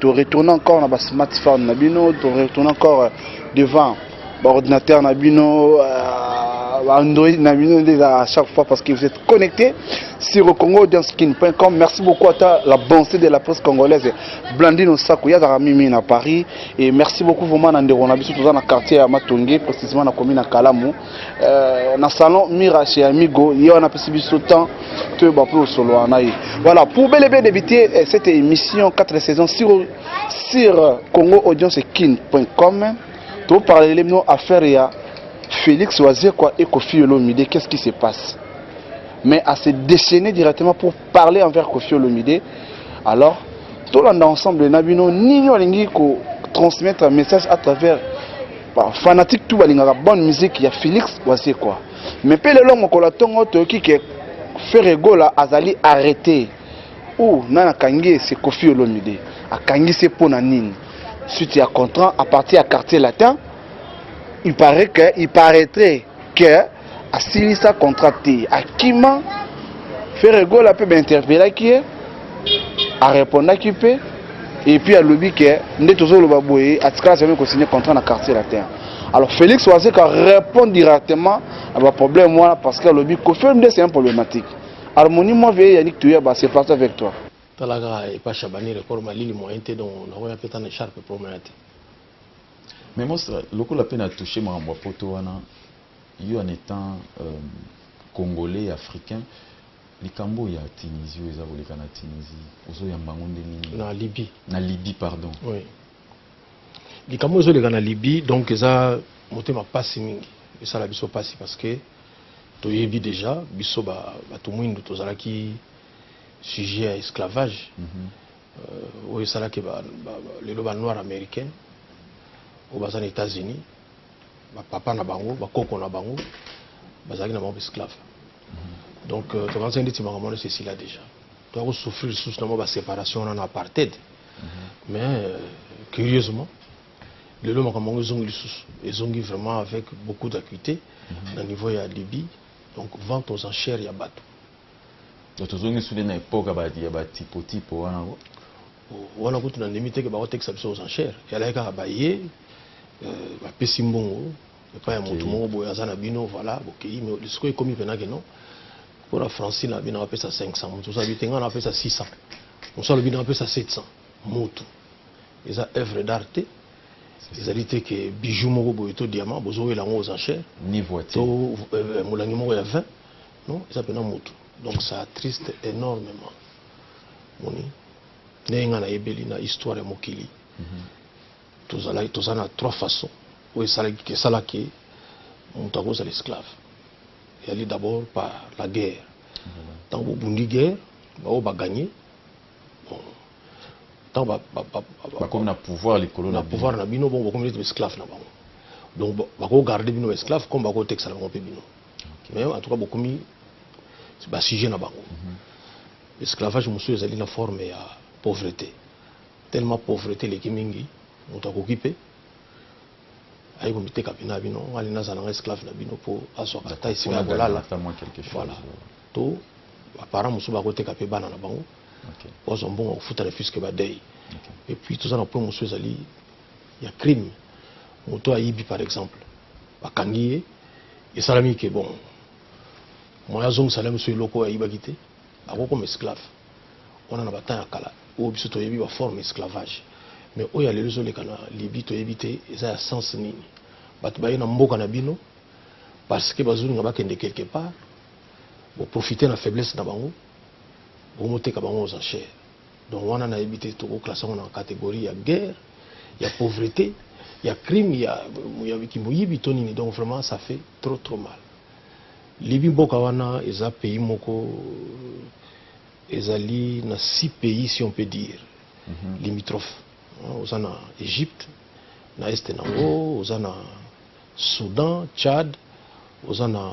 To retourner encore na ba smartphone na bino, to retourner encore euh, devant ba ordinateur na bino euh, ba Android na bino nde à chaque fois parce que vous êtes connecté sur congoaudiencekin.com. Merci beaucoup à ta, la bonté de la presse congolaise Blandine Osaku yazaka mimi na Paris et merci beaucoup vraiment na ndeko na biso toza na quartier ya Matonge précisément na commune ya Kalamu. Euh, na salon mira chez amigo ye wana apesi biso temps toyeba mpe osolola na ye voilà pour bel et bien débuter euh, cette émission 4 saisons sur, sur congo audience kin com toparlele bino affaire ya félix wazekwa et kofi olomide qu'est ce qui se passe mais à se déchaîner directement pour parler envers Kofi Olomide alors tolanda ensemble na bino nini olingi ko transmettre message à travers ba fanatique tout balingaka bonne musique ya Felix Wazekwa mais mpe lelo mokolo ntongo toyoki ke Ferre Gola azali arrete ou nani akangi ye se Kofi Olomide akangisi ye mpo na nini suite ya contrat à partir ya quartier latin il paraît que il paraîtrait que asilisa contrat te akima Ferre Gola mpe bainterpelaki ye arepondaki mpe epuis alobi ke nde tozoloba boye atikala sami kosigne contrat na quartier latin alors félix wazeka répond directement na baproblème wana parce que alobi kofilm nde c'est un problématique harmonie moi veye yanik toyeba c'est parti avec toi talaka epa shabani record malili moyen te donc nakoya mpe ta na echarpe promona te Mais Mostra, lokola pe na touche makambo ya poto wana, yo en etant euh, congolais africain, likambo ya Tunisie eza koleka na Tunisie, ozo yamba ngo ndenge nini? Na Libye. Na Libye, pardon. Oui. Likambo ezo leka na Libye, donc eza motema pasi mingi. Esala biso pasi parce que toyebi déjà biso ba bato mwindu tozalaki sujet ya esclavage. Mm -hmm. euh, oyo esalaki lelo ba noir américain oyo baza na états-unis bapapa na bango bakoko na bango bazalaki na bango esclave mhm. donc euh, tokanisa ndeti makambo wana esila déjà toya kosouffrir lisusu na mwa baséparation wana na apartheid mhm. mais euh, curieusement lelo makambo yango ezongi lisusu ezongi vraiment avec beaucoup d'acuité mhm. na niveau ya libye donc vente aux enchères ya bato Donc tozongi sous na époque ya ba tipo tipo wana ko. Wana kutu na ndimi te ke bako tekisa biso aux enchères. Yala kaka baye euh, ba pesi mbongo epai ya moto moko boye aza na bino voilà bokei mais lisiko ekomi mpena ke non mpo na francine na bino apesa 500 moto oza bite ngai napesa 600 mosu alobi na apesa 700 moto eza œuvre d'art te ezali te ke bijou moko boye to diamant bozowela yango aux enchères to euh, molangi moko ya 20 non eza pena mutu donc ça attriste énormément moni ndenge nga nayebeli na histoire ya mokili mhm. tozalaki toza na trois façons oyo esalaki esalaki moto akozala esclave eyali d'abord par la guerre ntango mhm. bobundi guerre baoyo bagagne ntango bakomi na pouvoir likolo na pouvoir na bino bongo bakomi neti baesclave na bango donc bakogarde bino baesclave comme bakotekisana bango mpe bino mais en tout cas bokomi basujet na bango mhm. esclavage mosusu ezali na forme ya pauvreté tellement pauvreté eleki mingi moto akoki mpe aye komiteka mpe na bino ngai naza na ngai esclave na bino mpo azwaka ata esika ya kolala voilà to baparent mosusu bakoteka mpe bana na bango bazwa mbongo ya kofuta refuse ke badei epuis toza na point mosusu ezali ya crime moto ayibi par exemple bakangi ye esalami ke bon moya azongisa na biso eloko oyo ayibaki te akokoma esclave wana na batemp ya kala oyo biso toyebi baforme esclavage mais oyo ya lelo ezoleka na libi toyebi te eza ya sens nini bato baye na mboka na bino parce que bazolinga bakende quelque part boprofite na faiblesse na bango bomoteka bango aux enchères donc wana nayebi te toko classe yango na catégorie ya guerre ya pauvrete ya crime ya, ya kimoyibi to nini donc vraiment ça fait trop trop mal libi mboka wana eza pays moko ezali na six pays si on peut dire mm -hmm. limitrophe oza na égypte na este na yango oza na soudan tchad oza na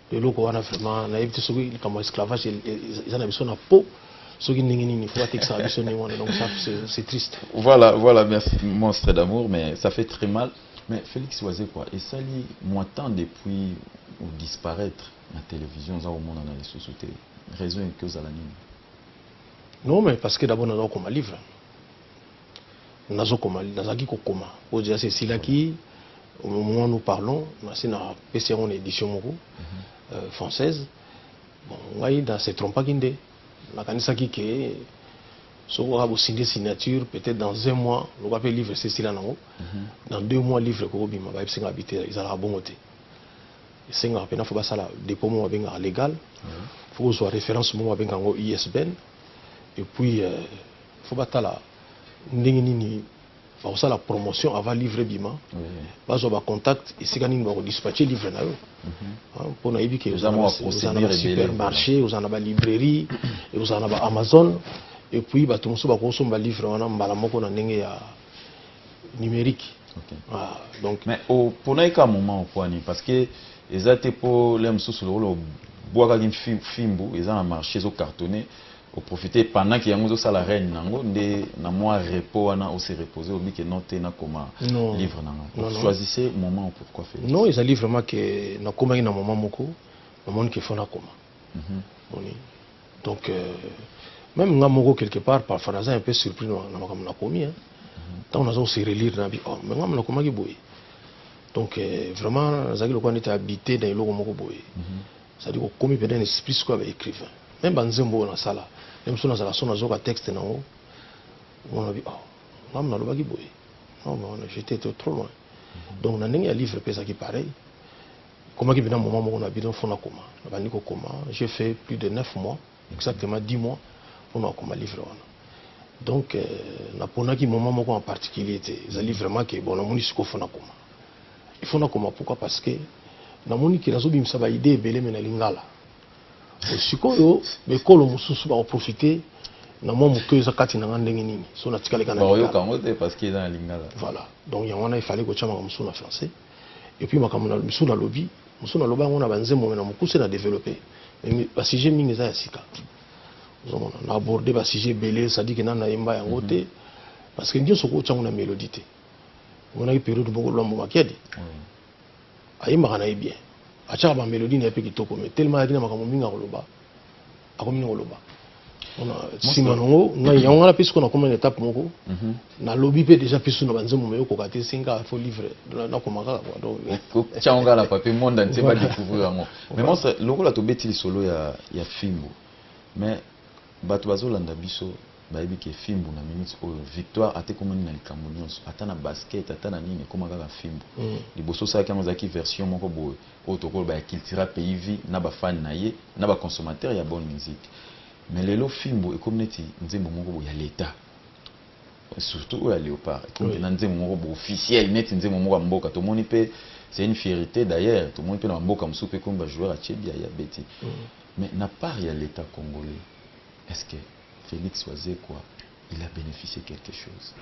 eloko wana vraiment nayebi te soki likambo ya esclavage eza na biso na po soki ndenge nini faut batekisa na biso ndenge wana donc ça c'est triste voilà voilà merci monstre d'amour mais ça fait très mal mais félix wazekwa esali mois temps depuis disparaître na télévision oza komona na lisusu te raison eke ozala nini non mais parce que d'abord naza kokoma livre nazokoma nazalaki kokoma oyo deja sesilaki au moment nous parlons nasi napesi yango na édition moko mhm. euh, française bon ngai na se trompaki nde nakanisaki ke soki oka kosinde signature peut-être dans un mois lokola mpe livre esesila nango mhm. dans deux mois livre ekobima bayebisi ngai bite ezalaka bongo te esengaka mpena fo basala dépôt moko babengaka légal mhm. fo kozwa référence moko babengaka yango isbn et puis euh, faut batala ndenge nini bakosala promotion avant livre ebima bazwa bacontact esika nini bakodispatche livre na yo mpo mhm. ah, nayebi ke oza na basupermarché oza na balibrairie oza na baamazon epuis bato mosusu bakosomba livre wana mbala moko na ndenge ya numérique okay. ah, donc mais oponaki ka moment okwani parce que eza te mpo le mosusu lokola obwakaki fimbu eza na marché ezocartonne O profiter pendant que yango ozo sala règne na ngo nde na mua repos wana o se reposer olobi que non te na koma livre na nga. O choisissez moment ou pourquoi Felix? Non ezali vraiment que na komaki na moment moko na moni que faut na koma. Omoni? Donc euh, même nga moko quelque part parfois naza un peu surpris na makambo na komi hein. Tango nazo se relire na bi oh mais nga na komaki boye. Donc euh, vraiment nazalaki lokola neti habiter na eloko moko boye. ça dit okomi pena na esprit sikoyo ba écrivain meme ba nzembo oyo nasala meme so nazala so nazoka texte nango omona bi oh ngam nalobaki boye non mais on a jeté trop loin mhm. donc na ndenge ya livre mpe ezalaki pareil komaki pena moment moko na bino fo nakoma nabandi kokoma j'ai fait plus de 9 mois mhm. exactement 10 mois mpo na kokoma livre wana donc euh, naponaki moment moko en particulier te ezali vraiment ke bon namoni sikoyo fo nakoma Il faut nakoma pourquoi parce que namoni ke nazobimisa ba idée ebele me na lingala sikoyo bekolo mosusu bakoprofite na mwa moke eza kati na nga ndenge nini so natikaleka nayoka yango te parce que eza na lingala voilà donc yango wana efale kotya makambo mosusu na français epuis makambo mosusu nalobi mosusu naloba yango na banzembo me na mokuse na développe basujet mingi eza ya sika ozomona na aborde basujet ebele sadike nani nayemba yango te mhm. parce que nyonso okotya yango na mélodie te omonaki periode moko lwambo makiadi mm. ayembaka na ye bien atyaka bamelodi na ye mpe kitoko me telema ayaki na makambo mingi akoloba akomi na koloba nsima nango ngai yango wana mpe sikoyo nakoma na etape moko mhm. nalobi mpe déjà mpe su na banzembo me okoka te esenga fo livre nakoma kaka kotyango ngai na papier monde antie badécouvrir yango mais monstre lokola tobeti lisolo ya fimbu mais Batu bazo landa biso bayebi ke fimbu na minute oyo victoire ata ekomani na likambo nionso ata na basket ata na nini ekoma kaka fimbu liboso osalaki yango ezalaki version moko boye oyo tokoki koloba ya cultura pays vie na ba fan na ye na ba consommateur ya bonne musique mais lelo fimbu ekomi neti nzembo moko boye ya l'etat surtout oyo ya leopard ekomi pena nzembo moko boye officiel neti nzembo moko ya mboka tomoni pe c'est une fierite d'ailleurs tomoni pe na ba mboka mosusu pe ekomi ba joueur ya chebi ya beti Mais na part ya l'etat congolais est ce que Felix Wazekwa il a beneficie quelque chose?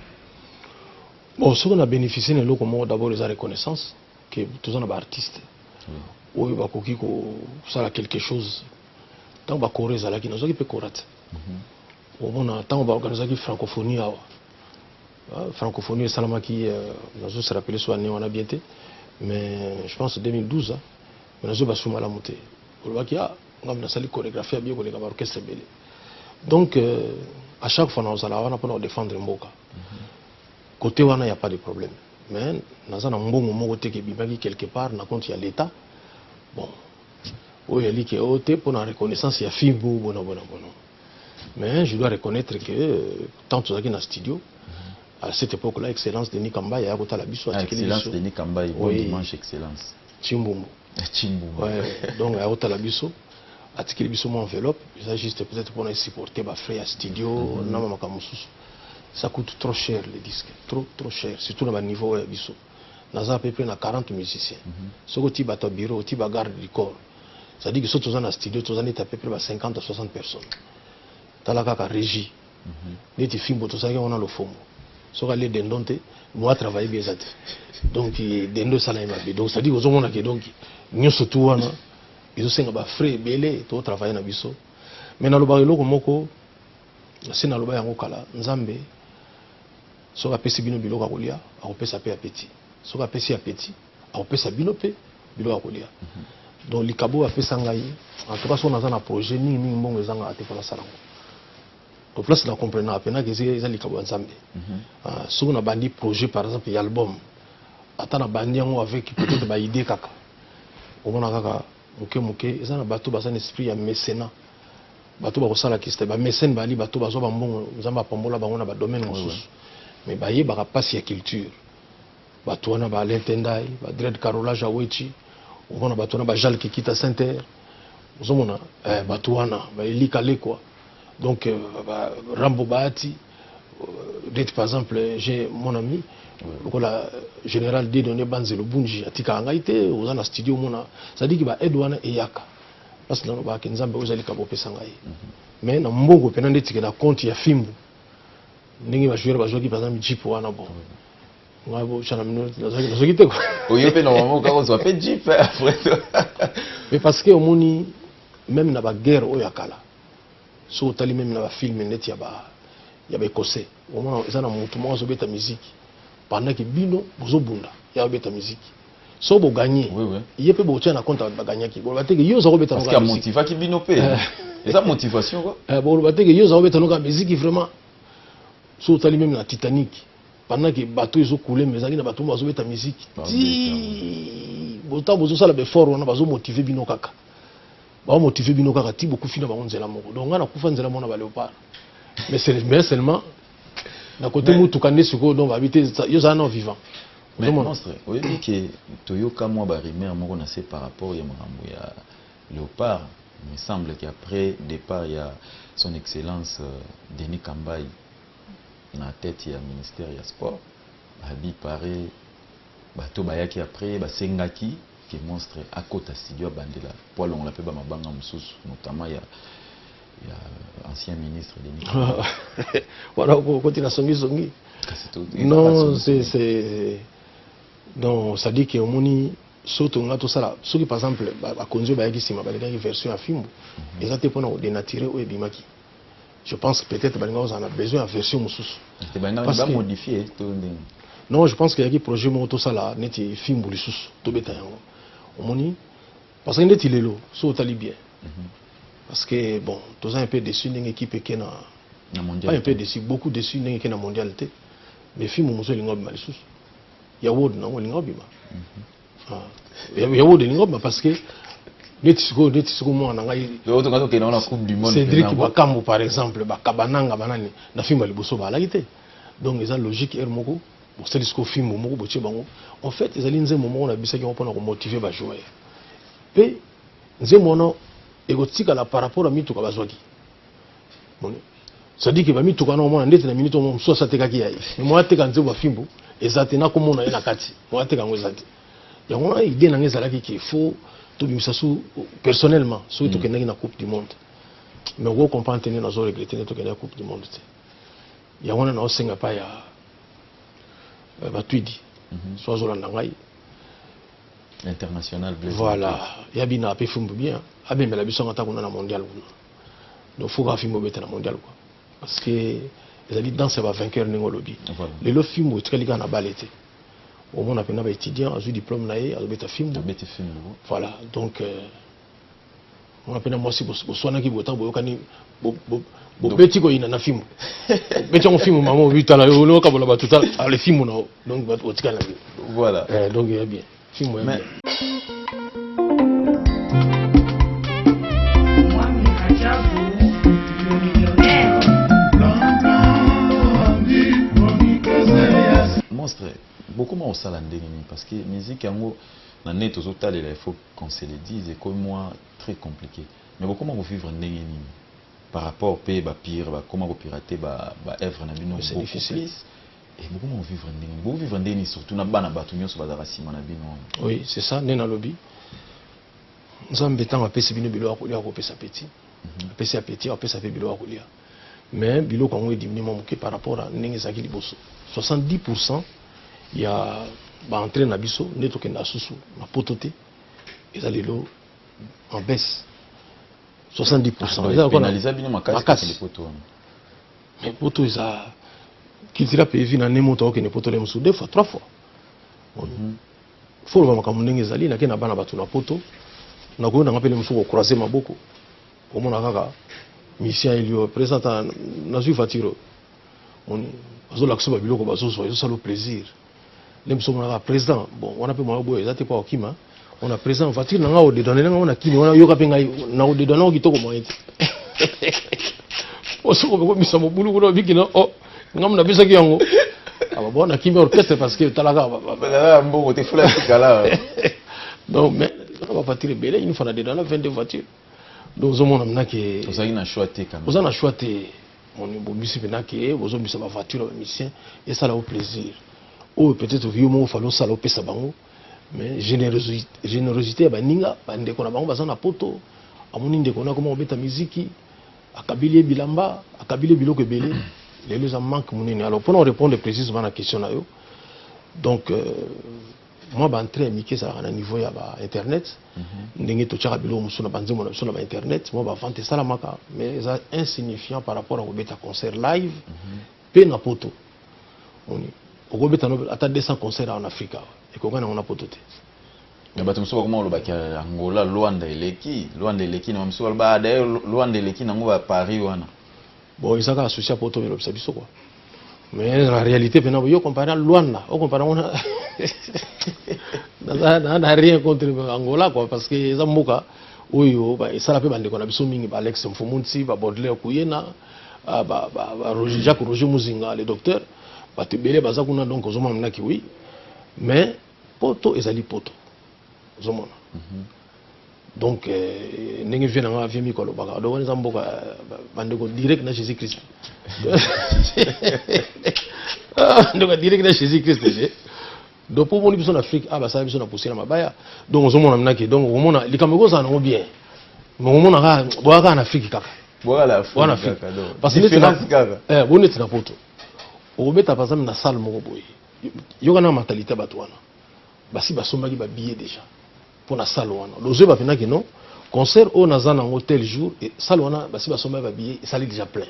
Bon soki na beneficie na eloko moko d'abord eza reconnaissance que toza na ba artistes oui. oyo bakoki kosala quelque chose ntango bakora ezalaki nazwaki mpe kora te mm -hmm. omona ntango baorganisaki francophonie awa ah, francophonie esalamaki euh, nazoserappele so année wana bien te mais je pense 2012 Mais nazo ba suma lamu te. Olobaki ah ngambo nasali choregraphie ya bien koleka ba orchestre ebele. Donc euh, à chaque fois nazala wana pona ko défendre mboka. Mm -hmm. Côté wana ya pas de problème. Mais naza na mbongo moko te ke bimaki quelque part na compte ya l'État. Bon. Oyo yali ke oyo te pona reconnaissance ya film bo bona bona bona. Mais je dois reconnaître que euh, tant tozalaki na studio, à cette époque-là, Excellence Denis Kambaye, à Excellence Denis Kambaye, bon oui. dimanche, Excellence. Chimbumbu. Na Chimbumbu. Ouais, donc à otala biso atikeli biso mon enveloppe, eza juste peut-être pour supporter ba frais ya studio mm -hmm. na mamaka mususu. Ça coûte trop cher les disques, trop trop cher, surtout na ba niveau ya biso. Naza à peu près na 40 musiciens. Mm -hmm. Soko ti bato bureau, ti ba garde du corps. C'est-à-dire que soki toza na studio, toza neti à peu près ba 50 à 60 personnes. Tala kaka régie. neti fimbo tozalaki yango na lofongo soki alie dendon te mo atravaille bien eza te donc dendo esalami mabe donc cestadire ozomona ke donc nyonso tu wana ezosenga bafrais ebele totravaille na biso mai nalobaka eloko moko se naloba yango kala nzambe soki apesi bino biloko ya kolia akopesa mpe apeti soki apesi apeti akopesa bino mpe biloko ya kolia donc likabo oyo apesa ngai en tout cas soki naza na projet mingi mingi mbongo ezangaka te mpo nasala yango to place na comprenaka mpenaka eza likabo ya nzambe mhm. ah, soki nabandi projet par exemple ya album ata nabandi yango avec peut-être baide kaka omona kaka moke moke eza na bato baza na esprit ya mécena bato bakosala kiste bamesene bali bato bazwa bambongo nzambe apambola bango na badomaine mosusu mais bayebaka mpasi ya culture bato wana ba alain tendai ba dread carolage awechi omona bato wana ba jal kikita center ozomona eh, bato wana ba elika lekwa donc euh, ba rambo baati euh, date par exemple j'ai mon ami lokola général dedone banzelo bunji atikaka ngai te oza na studio omona sadiki ba aide wana eyaka parce que nalobaka nzambe ozali kabo opesa ngai mais na mbongo mpena ndetikela compte ya fimbu ndenge ba joueur bazwaki par exemple jeep wana bon ngai bocana mino nazwaki te oyo mpe normalement okaka ozwa mpe jeep après mais parce que omoni même na baguerre oyo ya kala soki otali meme na bafilme neti ya ba ya baekosais omona eza na motu moko azobeta miziki pendant ke bino bozobunda ya abeta miziki so bo gagner oui, oui. ye pe botia na compte ba gagnaki boloba te que yo zako beta parce que motivaki bino pe eh. eza motivation quoi eh, boloba te que yo zako beta noka musique vraiment so tali même na Titanic pendant que bateau ezo couler mais ezalaki na bateau bazo beta musique ti bota bozo sala be fort wana bazo motiver bino kaka ba motiver bino kaka ti bokufi na bango nzela moko donc nga na kufa nzela mona ba léopard mais c'est mais seulement na kote motuka nde sikoyo donc abi te yo ozala nao vivant monstre oyebi ke toyoka mwa barumeur moko na se par rapport ya makambo ya léopard me semble ke après départ ya son excellence euh, denis kambai na tete ya ministère ya sport abi pare bato bayaki après basengaki que monstre akota studio abandela po alongola pe ba mabanga mususu notamment ya ya ancien ministre Denis wana okoti na songi songi non c'est c'est non ça dit que omoni so tonga tosala soki par exemple bakonzi oyo bayaki nsima balekaki version ya fimbu mhm. eza te mpona kodenatire oyo ebimaki Je pense que peut-être balinga ozala na besoin ya version mosusu. Te balinga ba modifier to ndenge. Non, je pense que yaki projet moko to sala neti fimbu lisusu to beta yango. Omoni parce que neti lelo so otali bien. Mm -hmm. Parce que bon, toza un peu déçu ndenge équipe eke na na mondial. Pas un peu déçu, beaucoup déçu ndenge eke na mondial te. Mais fimbu mosusu elinga obima lisusu. Ya word na ngo elinga obima. Mm -hmm. ah. yango de lingomba parce que neti sikoyo neti siko mwana na ngai cédrik bakambo par exemple bakabananga banani na fimbo ya liboso baalaki te donc eza logique heure moko bosali sikoyo fimbo moko botie bango en fait ezali nzembo moko na bisaki yango mpona komotive bajoueur mpe nzembo wana ekotikala par rapport ya mituka bazwaki sadiki bamituka na omona ndeti na minute omo mosusu asatekaki ya ye moya teka nzebo ya fimbu eza te nakomona ye na kati moya teka yango eza te yango wana idée na ngai ezalaki ke fo tobimisa su personnellement soki mm. tokendaki na coupe du monde mais oko comprendre te nde nazo regrete nde tokendaki coupe du monde te yango wana naosenga pa ya euh, batwidi mhm. so azolanda ngai international voilà ya bina ape fimbu bien abembela biso yango ata kuna na mondial kuna donc faut bafimba obeta na mondial quoi parce que ezali danse ya bavainqueur ndenge olobi lelo fimbu etikali kaka na bale te omona mpena baétudiant azwi diplôme na ye azobeta fimbu voilà donc euh, mona mpena mwasi boswanaki botaka boyokani bobeti koyina na fimbu beti yango fimbu mama obitala yo oliokabola bato tala ale fimbu na yo donc otikali na bino voilà eh, donc ya bien monstre bokoma kosala ndenge nini parce que musique yango na nde tozotalela il faut qu'on se le dise ekomi mwa très compliqué mais bokoma kovivre ndenge nini par rapport mpe bapire bakoma kopirate baœuvre na bino beaucoup plus Eh, bokoma kovivre ndenge nini bokovivre ndenge nini surtout na bana bato nyonso bazalaka nsima na bino wana oui c'est ça nde nalobi nzambe ntango apesi bino biloko ya kolia akopesa peti mhm. apesi ya peti apesa mpe biloko ya kolia mais biloko yango edimini mwa moke par rapport a ndenge ezalaki liboso 70 pourcent ya baentrée na biso nde tokenda susu na poto te eza lelo en baisse 70 pourcent ah, eza lokola makasi mais poto eza culture mpe evi na ne moto akokende poto le mosusu deux fois trois fois mhm. fo oloba makambo ndenge ezali nake na bana bato na poto nakoyo nanga mpe le mosusu kocroise maboko omona kaka mission elio presenta nazwi voiture moni bazolakisa babiloko bazozwa ezosala plaisir nde biso monaka président bon wana mpe mwa boye eza te mpo akokima on a présent voiture na ngai odedone na ngai wana kini wana yoka mpe ngai na odedone yango kitoko moyen te osoko okomisa mobulu kuna obiki na o ngai mona apesaki yango ababona ah, kimi orchestre parce que otalaka mbongo te fula tikala donc mais na bavoiture ebele une fois na dedone na 22 voiture donc ozomona mnake ozali na choix te oza na choix te moni bobisi pena ke bozombisa ba voiture ba musicien esala yo plaisir oyo peut-être yo moko fali osala opesa bango mais générosité ya baninga bandeko na bango baza na poto amoni ndeko na akoma kobeta miziki akabili ye bilamba akabili ye biloko ebele lelo eza manque monene alors mpona orépondre précisement na question na yo donc euh, mwa baentrée ya mike ezalaka na niveau ya bainternet mhm. ndenge totyaka biloko mosusu na banzembo na biso na bainternet mwa bavente esalamaka mais eza insignifiant par rapport ya kobeta concert live mhm. mpe na poto oni okobeta ata 200 concert en afrique awa ekokani yango na poto te na bato mosusu bakoma kolobaki angola lwanda eleki lwanda eleki na bamosusu baloba ah, daye lwanda eleki nango ba paris wana Bon, eza kaka souci ya poto elobisa biso quoi. Mais la réalité pena yo comparé na Luanda, o comparé ngo na na na rien contre Angola quoi parce que eza mboka oyo ba esala pe bandeko na biso mingi ba Alex Mfumunsi, ba Baudelaire Kuyena, ah, ba, ba, ba Roger, Jacques Roger Muzinga le docteur, bato ebele baza kuna donc ozomona mna kiwi mais poto ezali poto ozomona donc euh, ndenge vie na ngai vie miko alobaka donc wana eza mboka euh, bandeko direct na jésus christ ah, ndeko direct na jésus christ te donc mpo omoni biso na afrique a ah, basala biso na pousse na mabaya donc ozomona minake donc okomona likambo ekozala nango bien mais okomona kaka boya kaka na afrique kaka boya na afrique parce que eh, bo neti na poto okobeta par exemple na salle moko boye yoka na mentalité ya bato wana Basi basombaki ba billets dejà pona salle wana. Lozweba pendaki non concert oyo naza nango tel jour et salle wana basi basombaki ba billets esali dejà plein.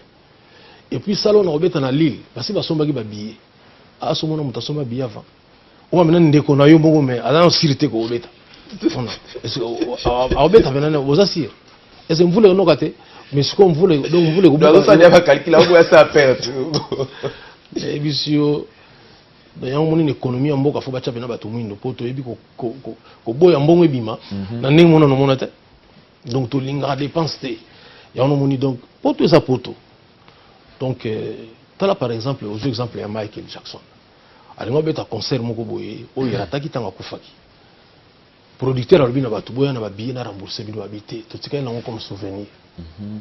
Et puis salle oyo nakobeta na Lille basi basombaki ba billets. Ah soki omona mutu asomba billet avant oyo amena ndeko na yo moko mais aza nano sur te ko obeta. Akobeta pena nini oza sur? Est-ce que mvula ekonoka te? Mais sikoyo mvula donc mvula ekobuka. Nazo salia ba calcul akoya sa perte. Nayebisi yo donc yango omoni na économie ya mboka fo batya mpena bato mwindo mpo toyebi koboya mbongo ebima mhm. na ndenge mona nomona te donc tolingaka dépense te yango nomoni donc poto eza poto donc euh, tala par exemple ozwi exemple ya michael jackson alingi obeta concert moko boye oyo erataki ntango akufaki producteur alobi na bato boya na babillet na rembourse bino babi te totikali nango comme souvenir mhm.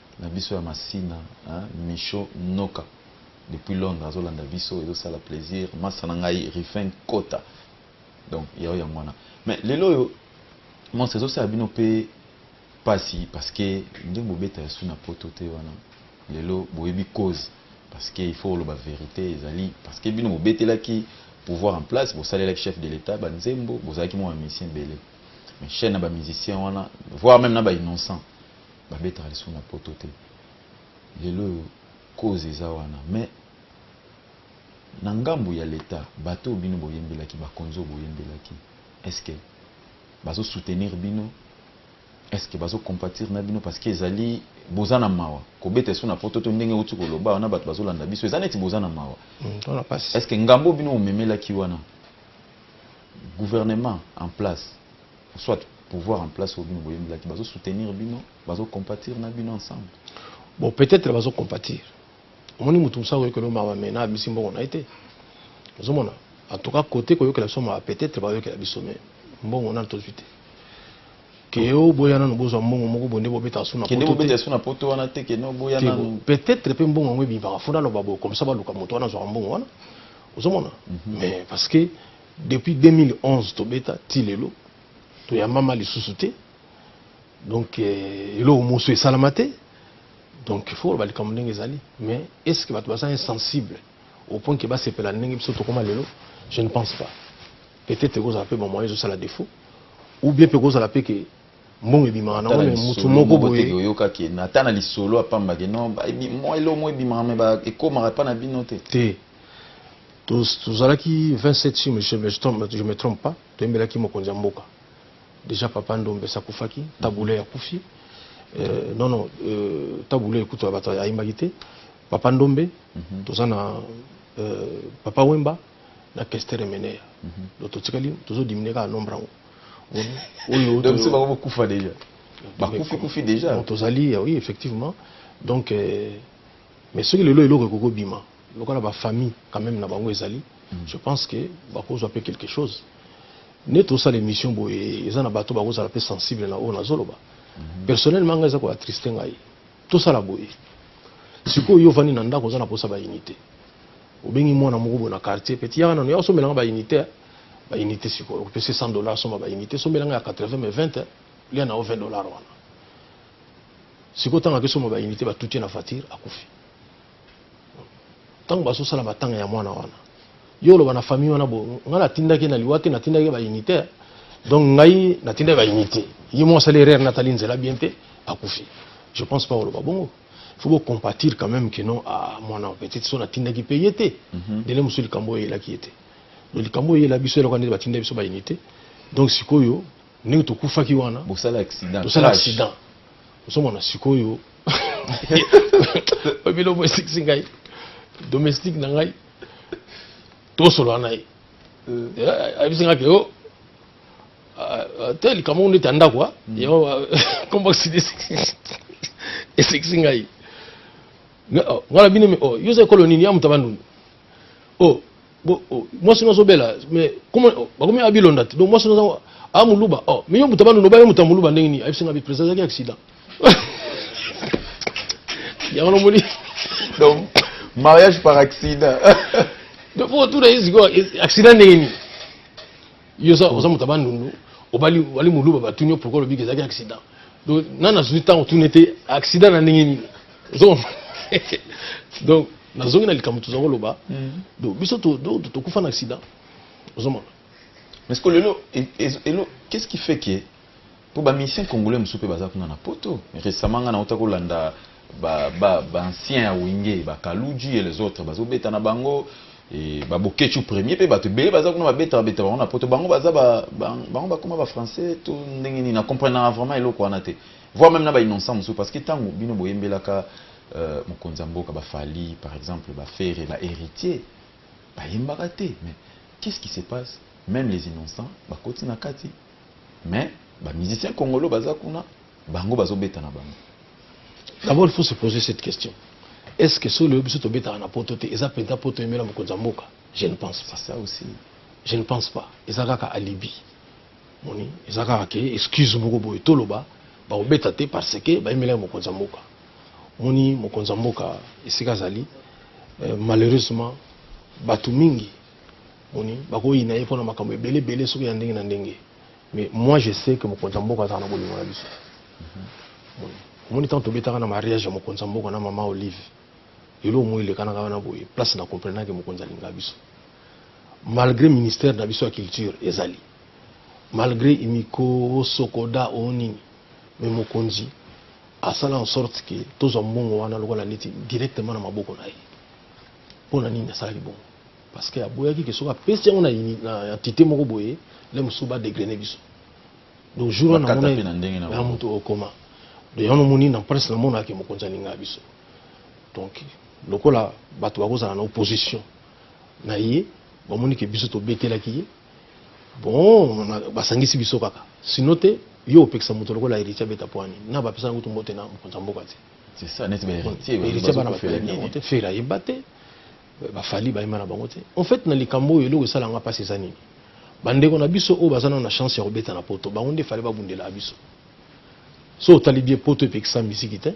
na biso ya masina hein michaux noka depuis londre azo landa biso ezo sala plaisir masta na ngai rifin kota donc yao yango wana mais lelo oyo monse ezo sala bino pe pasi parce que nde bobeta ya suna poto te wana lelo boyebi cause parce que il faut oloba verite ezali parce que bino bobetelaki pouvoir en place bosalelaki chef de l'etat ba nzembo bozalaki mwa ba musicien ebele mais chaine na ba musicien wana voire même na ba innocent Ba betaka lisusu na poto te. Lelo oyo cause eza wana mais na ngambu ya l'etat bato oyo bino boyembelaki ba konzi oyo boyembelaki est ce que bazo soutenir bino? Est ce que bazo compatir na bino? Parce que ezali boza na mawa kobeta lisusu na poto te ndenge owuti koloba wana bato bazo landa biso eza neti boza na mawa. Hmm, est ce que ngambu oyo bino bomemelaki wana gouvernement en place soit pouvoir en place oyo bino boyembelaki bazo soutenir bino bazo compatir na bino ensemble bon peut-être bazo compatir omoni motu mosusu akoyokela mawa me na abimisi mbongo na ye te ozomona en tout cas kote koyokela biso mawa peut-être bayokela biso me mbongo nano tozwi te keo boya nano bozwa mbongo moko bonde bobetaka su na poto wana te peut-être mpe mbongo yango ebimaka fo naloba boye komisa baluka moto wana azwaka mbongo wana ozomona mais mhm. parce que Depuis 2011 tobeta ti lelo toyambama lisusu te donc euh, eloko mosusu esalama te donc il faut balikambo ndenge ezali mais est ce que bato baza insensible au point ke basepela ndenge biso tokoma lelo je ne pense pas peut-être ekozala mpe bamoyen ezosala défaut ou bien mpe ekozala mpe ke mbongo ebimaka nango me motu moko boye oyokaki ata na lisolo apambaki no elongo ebimaka me ekomaka epa na bino te te tozalaki 27 si je me trompe pas toyembelaki mokonzi ya mboka déjà papa ndombe esi akufaki tabule akufi euh, non non euh, tabule ekutu ya bato ayembaki te papa ndombe mhm. toza na euh, papa wemba na kestere meneya mhm. do totikali tozodimine kaka nombre yango oyobakufa déjà bakufi kufi déjà tozali oui effectivement donc mais soki lelo eloko ekokobima lokola ba famille quand même na bango ezali mm. je pense que bakozwa pe quelque chose neti osala émission boye eza na bato bakozala pe sensible na oyo nazoloba mm -hmm. personnellement ngai eza koatriste ngai tosala boye sikoyo yo ovandi na ndako oza na posa ba unité obengi mwana moko boye na quartier peti yaka nano ya osomelanga ba unité ba unité sikoyo opesi 100 dollar somba ba unité somelanga ya 80 mais 20 lia na yo 20 dollar wana sikoyo ntango akesomba ba unité batuti na voiture akufi ntango bazosala matanga ya mwana wana yo oloba na famille wana bo ngai natindaki na liwa te natindaki baunité donc ngai natindaki baunité ye moko asali erreur natali nzela bien te akufi je pense pas oloba bongo faut bocompatir quand même que non ah, mwana petite so natindaki mpe ye te mhm. ndele mosusu likambo oyo eyelaki ye te donc likambo oyo eyela biso eloko ndeti batinda biso baunité donc sikoyo ndenge tokufaki wana bosala accident tosala accident osomona sikoyo oyo biloko esikisi ngai domestique na ngai tosolola na ye euh. eh, ayebisi ngai ke o oh, ah, ah, te likambo ngo ndeti ya ndako ah. hmm. yango kombo esikisi ngai oh, ngai na bino oh, yo oza ekolo nini ya moto abandundu oh bo oh, mwasi no azobela mais comment oh, bakomi abilonda te donc mwasi no aza amuluba oh mais yo moto abandi loba yo moto amuluba ndenge nini ayebisi nga bi président ezalaki accident yango nomoni donc mariage par accident donc po tuna ye sikoyo accident ndenge nini yo oza moto abandundu obali muluba batuni yo pourkoi olobiki ezalaki accident donc nana azwi ntango tuna ete accident na ndenge nini donc nazongi na likambo tozwa koloba donc biso tokufa na accident ozomona mais siko lelo elo qu'est-ce qui fait que mpo bamisien congolais mosusu mpe baza kuna na poto récemment ngai nauta kolanda baancien ya wenge bakaluji et les autres bazobeta na bango baboketchu premier mpe bato ebele baza kuna babeta babeta bango na poto bango baza bango bakoma bafrançais to ndenge nini na comprenaka vraiment eloko wana te voir meme na ba innocent mosusu parce que tango bino boyembelaka euh, mokonzi ya mboka ba Fally par exemple ba Ferre ba Heritier bayembaka te mais qu'est-ce qui se passe même les innocents bakoti na kati mais ba musiciens congolais baza kuna bango bazobeta na bango d'abord il faut se poser cette question est ce que solo oyo biso tobetaka na poto te eza mpenza mpo toyembela mokonzi ya mboka je ne pense pas ça aussi je ne pense pas eza kaka alibi moni eza kaka ke excuse moko boye toloba bakobeta te parce que bayemelaki mokonzi ya mboka moni mokonzi ya mboka esika azali euh, malheureusement bato mingi moni bakoyina ye mpona makambo ebele ebele soki ya ndenge na ndenge mais moi je sais que mokonzi ya mboka azala na bolingo na biso omoni ntango tobetaka na mariage ya mokonzi ya mboka na mama olive eloko moi elekanaka wana boye place na comprenake mokonzi alinga biso malgré ministère na biso ya culture ezali malgre imiko osokoda o nini me mokonzi asala en sorte ke tozwa mbongo wana lokola neti directement na maboko na ye mpo na nini asalaki bongo parce que aboyaki ke soki apesi yango na entité moko boye le mosusu badegrene biso donc jour wana namona moto okoma de yango nomoni na presse namonaka ke mokonzi alingaa biso donc lokola bato bakozala na opposition na ye bamoni ke biso tobetelaki ye bon basangisi biso kaka sino te yo opekisa moto lokola héritier abeta pwani na bapesa yango tumbote na mokonzi ya mboka te c'est ça neti héritier héritier bana bafela yango te fela yeba te bafali bayema na bango te en fait na likambo oyo eloko esala nga mpasi eza nini bandeko na biso oyo baza nao na chance ya kobeta na poto bango nde fale babundela biso so otali bie poto epekisa miziki te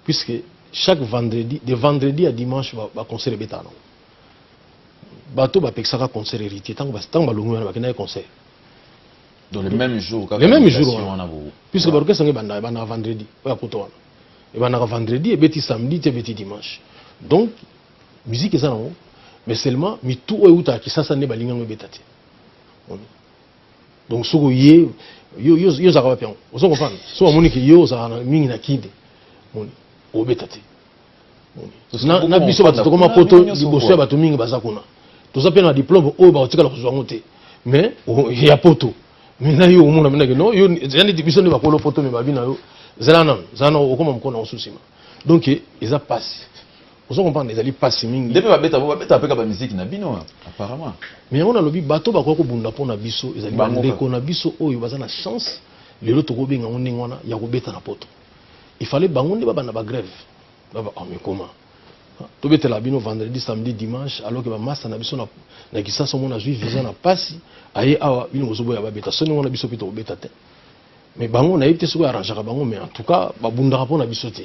puisque chaque vendredi de vendredi ya dimanche baconcert ebetaka nango bato bapekisaka concert héritier ntango balongi wana bakendaki concert donc le même jour le même jour wana puisque ouais. baorchestre yango ebandaka ebandaka vendredi oyo akuta wana ebandaka vendredi ebeti samedi ti ebeti dimanche donc musique eza nango mais seulement mitu oyo eutaka kisasa nde balingi yango ebeta te donc soki oye yo ozalaka wapi yango ozo comprendre soki omoni ke yo ozalaka mingi na kinde moni obeta te na biso bato tokoma poto liboso ya bato mingi baza kuna toza mpe na diplome oyo bakotikala kozwa yango te mais oh, ya poto mais na yo omona mpenaki no yo eza neti biso nde bakolo poto me babi na yo zala nano zala na okoma mokolo na osusu nsima donc eza mpasi ozo comprendre ezali mpasi mingi nde mpe babeta babeta mpe ka bamiziki na bino apparemment mais yango nalobi bato bakoki kobunda mpo na biso ezali bandeko na biso oyo baza na chance lelo tokobenga yango ndenge wana ya kobeta na poto il fallait bango nde babanda ba grève baba oh, mais comment tobetela bino vendredi samedi dimanche alors que bamasta na biso na kisasa omona azwi visa na pasi aye awa bino bozoboya babeta soni wana biso mpe tokobeta te mais bango nayebi te soki arrangaka bango mais en tout cas babundaka mpo na biso te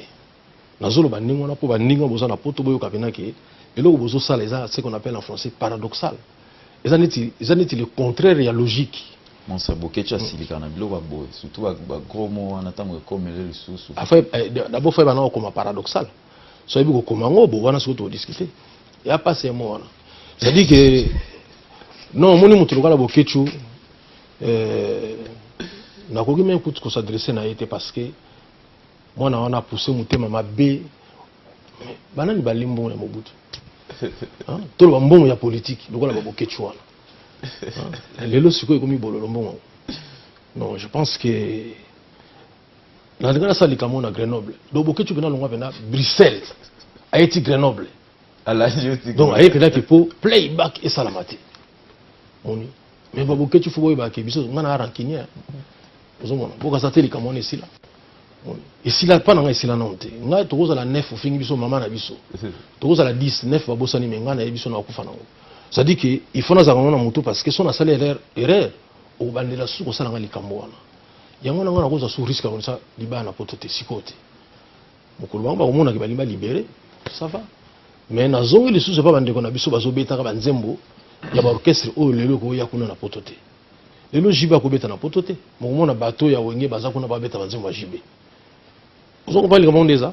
nazoloba ndenge wana mpo baninga boza na poto boyoka mpena ke eloko bozosala eza ce qu'on appelle en français paradoxal eza neti eza neti le contraire ya logique monsa bokeci asilika na biloko ya boye surtout bagros mo wana ntango ekomele lisusu eh, dabord fai bana kokoma paradoxal so ayebi kokoma yango bo wana soki todiscute ya mpasi ya mo wana cestadire ke non omoni moto lokala bokecu eh, nakoki meme kutu kosadresse na ye te parce que mwana wana apousse motema mabe banani balie mbongo ya mobutu toloba mbongo ya politiki lokola babokeci wana lelo sikoyo ekomi bololo mbongo yango non je pense que nalinga nasala likambo na grenoble donc bokeci mpena longwa mpena bruxelles aye ti grenoble donc aye mpena ke mpo playback esalama te moni mais ba boketshu fo boyeba ke biso nga na rancunier ozomona mpo kaza te likambo wana esila esila mpa na ngai esila nano te ngai tokozala 9 ofingi biso mama na biso tokozala 10 9 babosani me ngai naye biso na bakufa nango cestadi ke il faut nazalaka ngo na motu parce que so nasali erreur erreur okobandela susu kosala ngai likambo wana yango na ngai nakozwa su risque ya konisa libaya na poto te sikoyo te mokolo bango bakomonaka balingi ba libere ça va mais nazongi lisusu epa bandeko na biso bazobetaka banzembo ya baorchestre oyo lelo ekoya kuna na poto te lelo jibe akobeta na poto te mokomona bato ya wenge baza kuna babeta banzembo ya jibe oza kopaa likambo yango nde eza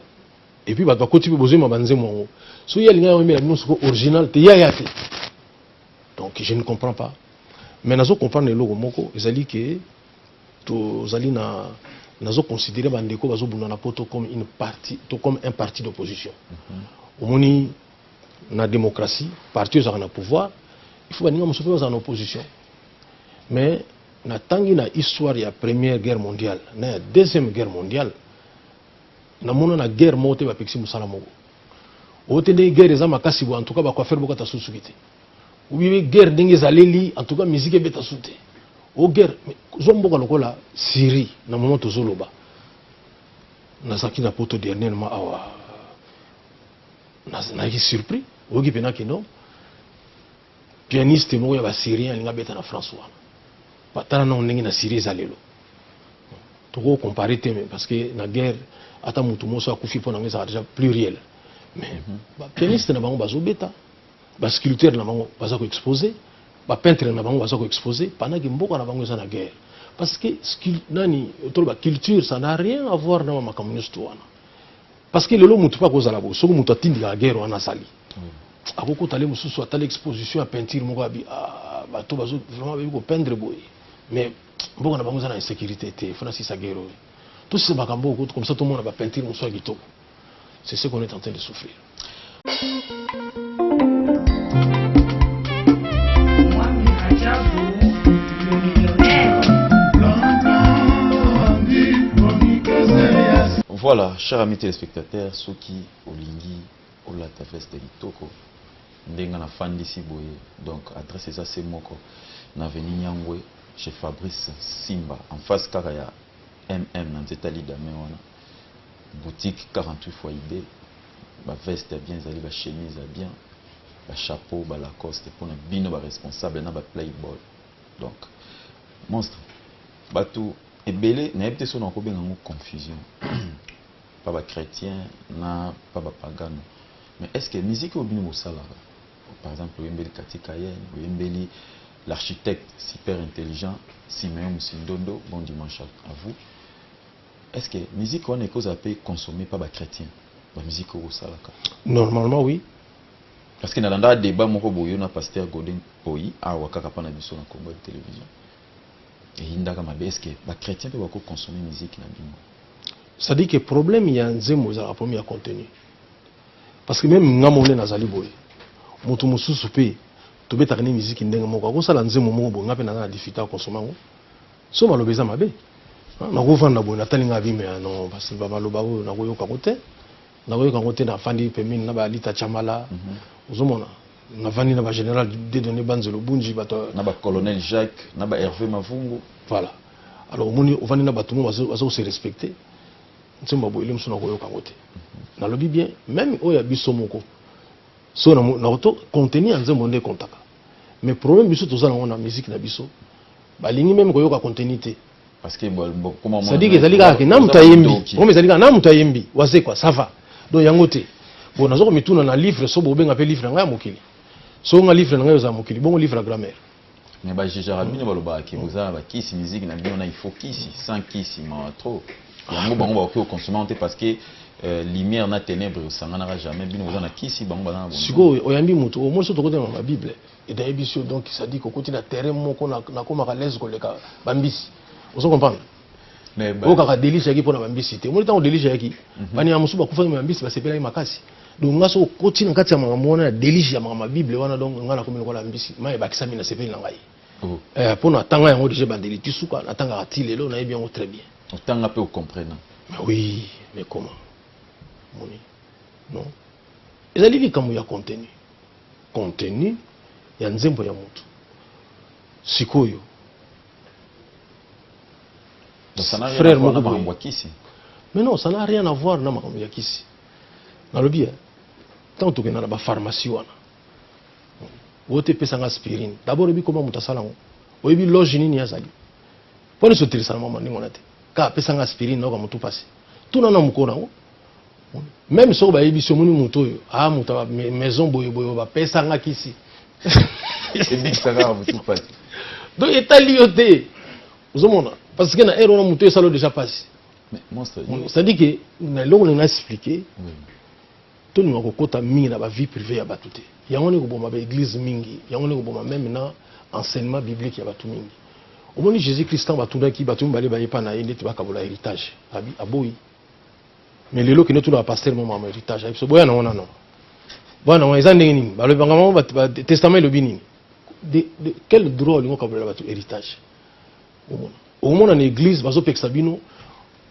epuis bato bakoti mpe bozoyima banzembo yango soki ye alingaki oyembela bino soko original te yaya te donc je ne comprends pas mais nazo comprendre eloko moko ezali ke Tozali na nazo considérer ba ndeko bazo bunda na poto comme une partie to comme un parti d'opposition. Mm -hmm. Omoni na démocratie, parti ozaka na pouvoir, il faut baninga mosusu baza na opposition. Mais na tangi na histoire ya première guerre mondiale na ya deuxième guerre mondiale na mona na guerre moko te bapekisi mosala moko oyo te ndenge guerre eza makasi bo en tout cas bacoiffeur bokata susuki te Oui, guerre ndenge ezaleli, en tout cas musique ebeta su te. O oh, guerre, zwa mboka lokola Syrie na moment tozoloba. Nazalaki na poto dernièrement awa nazalaki surpris oyoki mpena kino pianiste moko ya basyrien alinga beta na france wana batala nango ndenge na syrie eza lelo tokoki kocompare te parce que na guerre ata motu moso akufi mpo nango ezalaka déjà pluriel mais mhm. bapianiste na bango bazobeta ba sculpteurs na bango baza ko exposer ba peintres na bango baza ko exposer pendant que mboka na bango eza na guerre parce que nani toloba culture ça n'a rien à voir na makambo nyonso to wana parce que lelo motu mpe akozala bo soki motu atindikaka guerre wana azali hmm. akokota le mosusu atali exposition ya peinture moko abi ah, bato bazo vraiment bayebi kopendre boye mais mboka na bango eza na insécurité te fona sisa guerre oyo tosisa makambo oyo comme ça tomona bapeinture mosusu ya kitoko C'est ce qu'on est en train de souffrir. Voilà, chers amis téléspectateurs, ceux qui olingi olata veste litoko ndenge na fandisi boye donc adresse eza se moko na veni nyangwe chez fabrice simba en face kaka ya mm na nzeta lidame wana boutique 48 fois idee ba veste ya bien ezali ba chemise ya bien ba chapeau ba lacoste mpona bino ba responsable na ba playboy donc monstre bato ebele nayebi te soki nakobenga yango confusion pa ba chrétien na pa ba pagano mais est ce que musique oyo bino bosalaka par exemple oyembeli katika yen oyembeli l'architecte super intelligent simeon musindondo bon dimanche à vous Est ce que musique wana ekozala mpe consommée par ba chrétiens ba musique oyo bosalaka? Normalement oui. Parce que nalandaka debat moko boye yo na pasteur Godin Poyi awa kaka mpa na biso na Congo ya television eyindaka mabe. Est ce que ba chrétiens mpe bako consommer musique na bino? Ça dit que problème ya nzembo ezalaka problème ya contenu. Parce que même nga mole nazali boye moto mosusu mpe tobetaka nde miziki ndenge moko akosala nzembo moko boye nga mpe naza na difficulté ya konsoma yango So maloba eza mabe. Nakovanda boye natali nga vie mais non parce ba maloba oyo nakoyoka ngo te. Nakoyoka ngo te nafandi pembeni na ba Alita Chamala. Mm -hmm. Ozomona? Navandi na ba General Dedone Banzelo Bunji bato na ba Colonel Jacques na ba Hervé Mavungu. Voilà. Alors omoni ovandi na bato mo bazo se respecter. Nsimba boye lemso nakoyoka ngo te. Mhm. Nalobi bien même oyo ya biso moko. So na na contenu ya nzembo nde kontaka. mais problème biso toza nango na musique na biso balingi meme koyoka contenu te sadiki ezali kaka na moto ayembi comme ezali kaka na moto ayembi wazekwa ça va donc yango te bon naza komituna na livre so bobenga mpe livre na ngai ya mokili so nga livre na ngai oza ya mokili bongo livre ya grammaire mais bajijaka bino balobaka ke boza na bakisi miziki na bino na ifo kisi sans kisi mawa trop yango bango bakoki kokonsome yango te parce que euh, lumière na ténèbre esanganaka jamais bino boza na kisi bango baza na sikoyo oyambi motu omoi so tokotanga na bible edayebi sio donc sadike okoti na terrain moko nakomaka lese koleka bambisi ozo comprendre oyo kaka delige yaki mpo na bambisi te omoni ntango delige yaki mhm. banyama mosusu bakufaki bambisi basepelaki makasi donc nga soki okoti na kati ya makambo wana ya delige ya makambo ya bible wana donc nga nakomi lokola mbisi mai ebakisami na sepeli na ngai mpo oh. eh, natanga yango deja ebandeli ti suka natangaka ti lelo nayebi yango très bien otanga pe ocomprena mais oui mais comment moni non ezali likambo ya contenu contenu ya nzembo ya motu sikoyo frère moko makambo ya kisi mais non ça n'a rien à voir na makambo ya kisi nalobi eh, ntango tokenda na bapharmacie wana oyo te epesanga aspirine dabord oyebi koma moto asala yango oyebi loge nini azali Mpo na sotelisa na mama ndenge wana te. Kaka apesa nga aspirine nayoka mutu pasi. Tuna na mokolo yango. Meme soko bayebisi yo omoni moto oyo a ah, moto ya maison boye boye bapesa nga kisi. Ebikisa kaka mutu pasi. Donc etali yo te. Ozomona parce que na heure wana moto esalo déjà pasi. C'est-à-dire que na eloko na expliquer. Oui. Tolinga kokota mingi na ba vie privee ya batu te. Yango wana ekoboma ba eglises mingi. Yango wana ekoboma meme na enseignement biblique ya batu mingi. Omoni Jesus Christ tango batunaki batu mibale baye epa na ye ndeti bakabola heritage. Abi, aboyi. Mais lelo kende otuna ba pasteur moko makambo ya heritage. Ayebi biso boya nango nano. Boya nango eza ndenge nini? Balobi makambo yango ba, ba testament elobi nini? De, de quel droit olingi okabolela batu heritage? Omona. Okomona na eglise bazopekisa bino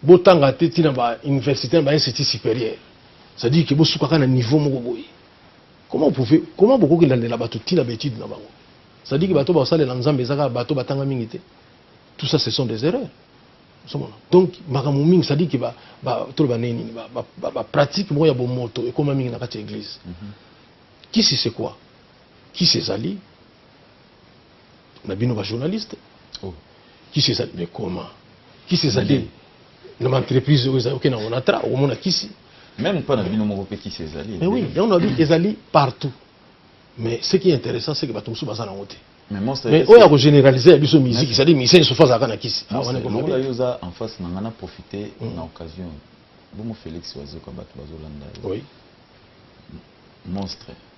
Botanga te ti na ba universite na ba institut superieur ça dire que bosuka kaka na niveau moko boye comment vous pouvez comment bokoki landela bato ti na ba étude na bango ça dire que bato baosalela nzambe eza kaka bato batanga mingi te tout ça ce sont des erreurs somona donc makambo mingi ça dire que ba, ba, toloba ndenge nini ba, ba, ba, ba pratique moko ya bomoto ekoma mingi na kati ya église mm -hmm. kisi c'est quoi kisi ezali na bino ba journaliste oh. kisi ezali mais comment kisi ezali mm. na baentreprise oyo ezali oke na onatra okomona kisi même mpo na bino moko mpe kisi ezali mais oui yango na bi ezali partout mais ce qui est intéressant c'est que bato mosusu baza nango te mais oyo ya kogénéralise ya biso miziki cetadi musicien sofa azalaka na kisi lokola yo oza en face na ngai na profite mm. na occasion bongo félix wazoka bato bazolanda yo monstre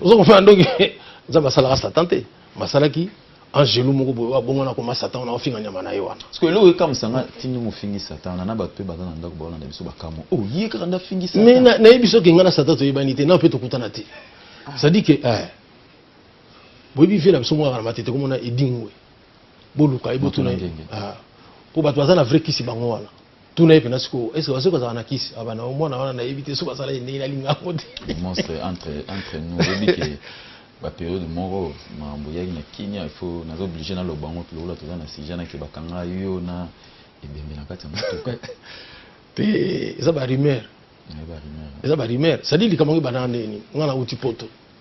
oza kofana ndoki nzambe asalaka satan te basalaki angelu moko boye abongwana akoma satan wana ofinga nyama na ye wana parce que eloko ekamwisa nga tindi mofingi satan wana na bato mpe baza na ndako baolanda biso bakamwa o oh, ye kaka nde afingi satan mais nayebi soki nga na satan toyebani te na mpe tokutana te ah. cestadire que eh, boyebi vie na biso mokaka na matete komona edingwe boluka ye botuna ye mpo ah. bato baza na vrai kisi bango wana tuna ye mpenza sikoyo est ce que basoki bazalaka na kisi abana ah, mwana wana nayebi te soki bazala ye ndenge nalinga yango te monstre entre entre nous oyebi ke baperiode moko makambo eyaki na kimia ifo naza oblige naloba yango lokola toza na sujet nake bakanga yo na ebembe na kati ya motuka te eza barumeur eza barumeur cetadire likambo yango ebandaka ndenge nini ngai nauti poto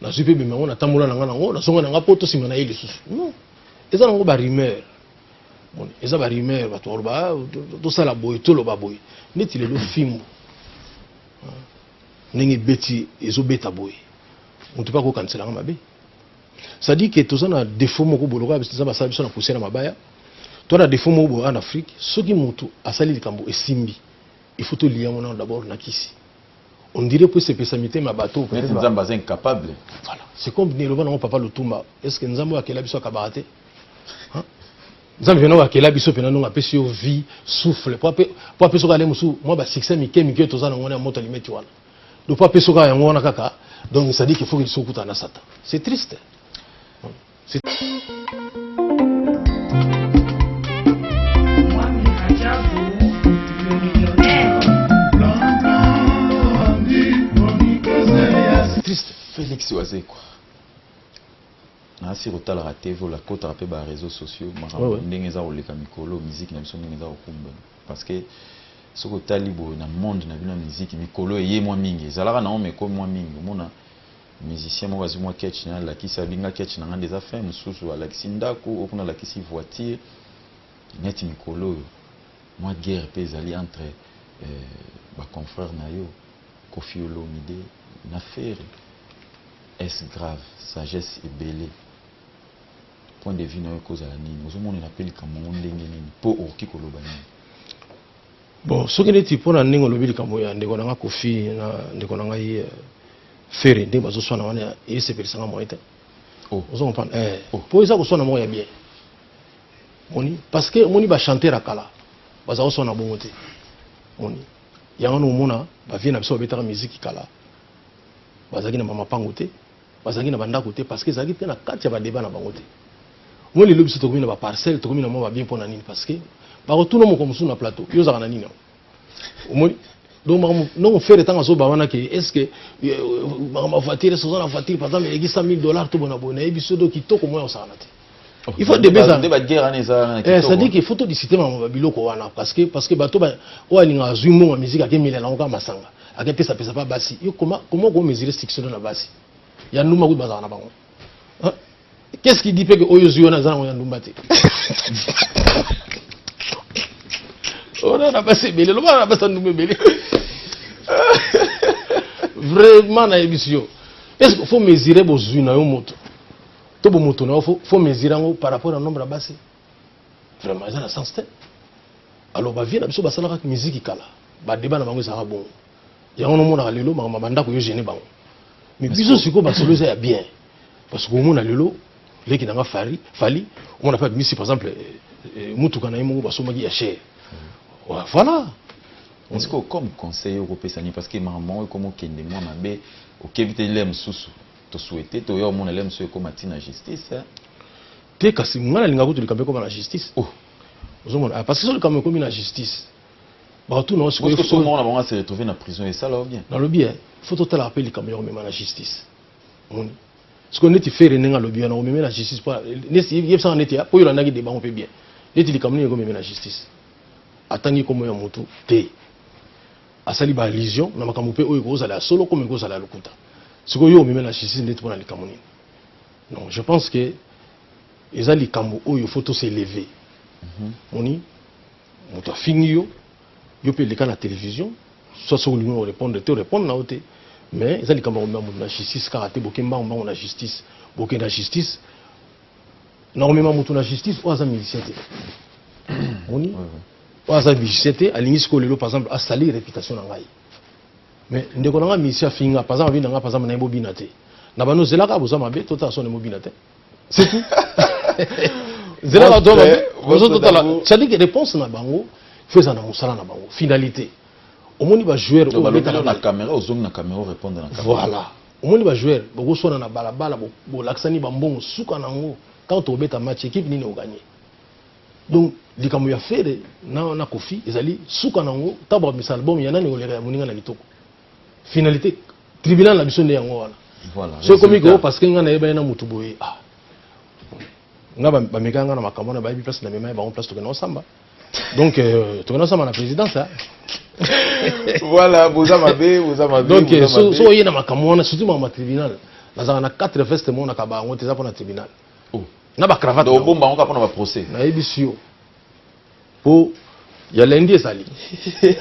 nazwi mpe bima yango natambola na ngai nango nazonga na ngai poto nsima na ye lisusu non eza nango barumeur bon eza barumeur bato baloba ah, tosala boye toloba boye neti lelo fimbu ah, ndenge ebeti ezobeta boye moto mpe akokanisela ngai mabe cestadire ke toza na defaut moko boloka eza basala biso na poussière ya mabaya toza na defaut moko boye en afrique soki moto asali likambo esimbi il faut toliya yango nano d'abord na kisi on dirait po esepesa mitema ya bato neti nzambe aza incapable voilà c'est comme neloba nango papa lutumba est ce que nzambe oyo akela biso akabaka te nzambe mpena oyo akela biso mpena ndongo apesi yo vie souffle po apesi oka ale mosusu mwa basuccès mike mike oyo toza na ngona ya moto alimeti wana donc po apesi oka yango wana kaka donc sadiki foki liso okutana na satan c'est triste Triste Felix Wazekwa nasi kotalaka tv oyo akotaka mpe ba réseaux sociaux makambo ndenge eza koleka mikolo miziki na biso ndenge eza kokumbana parce que soki otali boye na monde na bino ya miziki mikolo eye mwa mingi ezalaka na yango mekomi mwa mingi omona Musicien moko azui mwa ketch naye alakisi abi nga ketch nanga nde eza fin mususu alakisi ndaku oyo kuna alakisi voiture neti mikolo oyo mwa guerre pe ezali entre ba confrere nayo koffi olomide na ferre est ce grave sagesse ebele point de vue nayo ekozala nini ozo monela pe likambo yango ndenge nini po okoki koloba nini. Bon, soki neti pona ndenge olobi likambo ya ndeko na nga Kofi na ndeko na ngai euh, Ferre ndenge bazoswana wana esepelisa nga moyen te. Oh. Ozo comprendre? Eh, oh. po eza koswana moko ya bien. Moni parce que moni ba chanteur ya kala baza koswana bongo te. Moni yango na omona ba vie na biso babetaka musique kala bazalaki na mama pango te. bazalaki na bandako te parce que ezalaki mpe na kati ya badeba na bango te moi lelo biso tokomi na baparcelle tokomi na mwa babien mpo na nini parce que bakotuna moko mosusu na plateau yo ozalaka na nini yango omoni donc makambo ndongo fere ntango azoba wana ke est ce que euh, makambo ya voiture esi oza na voiture par exemple eleki 100 000 dollars to bona boye nayebi so do kitoko moi osakana te il faut debe ezala nde ba guerre wana ezala na kitoko eh c'est à dire qu'il faut to discuter ma ba biloko wana parce que parce que bato ba o alinga azui mbongo musique ake mila na oka masanga ake pesa pesa pa basi yo comment comment ko mesurer succès na basi ya nduma ko bazala na bango hein qu'est-ce qui dit que oyo zui wana zana ya ndumba te ona na basi ebele loba na basi ndumba ebele vraiment na yebisi yo est-ce qu'il faut mesurer bozui na yo moto to bomoto na yo fo fo mesure yango par rapport na nombre ya basi vraiment eza na sens te alors bavie na biso basalaka miziki kala badeba na bango ezalaka bongo yango nomonaka lelo makambo ya bandako yo gene bango mais biso sikoyo basolo eza ya bien parce que omona lelo leki na nga fari fali omona mpe abimisi par exemple eh, eh, motuka na ye moko basombaki ya chere mm. voilà sikoyo comme conseil okopesa nini parce que makambo yango ekomi okende mwa mabe okebi te ile mosusu To souhaiter to ya omona lem so ekoma ti na justice. Hein? Te kasi nga na linga kutu likambo ekoma na justice. Oh. Ozomona ah, parce que so likambo ekomi na justice. Bato na osiko ko so mona bango se retrouver na prison et ça là bien. Na lobi hein, faut to tala appel likambo ya komema na justice. Moni. Siko neti fere nenga lobi na komema na justice pa nesi yebisa neti ya po yolanda ki de bango pe bien. Neti likambo nini ekomema na justice. Atangi komo ya mutu te. Asali ba allusion na makambo pe oyo ekozala ya solo comme ekozala ya lokuta. Sikoyo yo omemela justice ndeti pona likambo nini? Non, je pense que eza likambo oyo faut to s'elever. Mhm. Moni moto afingi yo, yo pe leka na television, soit soki olingi o répondre te, o répondre na yo te. Mais eza likambo ya komema moto na justice kaka te, boke mbangu mbangu na justice. Boke na justice na komema moto na justice oyo aza musicien te. Moni? oyo aza musicien te alingi sikoyo lelo par exemple asali reputation na ngai mais ndeko na ngai musicien afinga par exemple abina ngai par exemple naye bobina te na bano zelaka boza mabe totala sone mobina te c'est tout zelaka to mabe bozo totala c'est-à-dire que réponse na bango faut ezala na mosala na bango finalité omoni bajoueur oyo obetaka na caméra ozongi na caméra orépondre na caméra voilà omoni bajoueur bokoswana na balabala bolakisani bambongo suka na yango quand obeta match équipe nini oganye donc likambo ya fere na, na kofi ezali suka na yango ntango bakomisa album ya nani ekoleka ya moninga na kitoko finalité tribunal na biso nde yango wana voilà, so ekomi koo parce que ngai nayeba ye na motu boye ah. nga bamekaka nga na makambo wana bayebi place na mema ye bango place tokenda osamba donc euh, tokenda osamba na présidence ah. voilà boza mabe boza mabe donc euh, so oye na makambo wana surtout makambo ya tribunal nazalaka na 4 veste monaka bango te eza mpo na tribunal oh. na ba cravate donc bomba ngo pona ba procès na yebisi yo po ya lundi ezali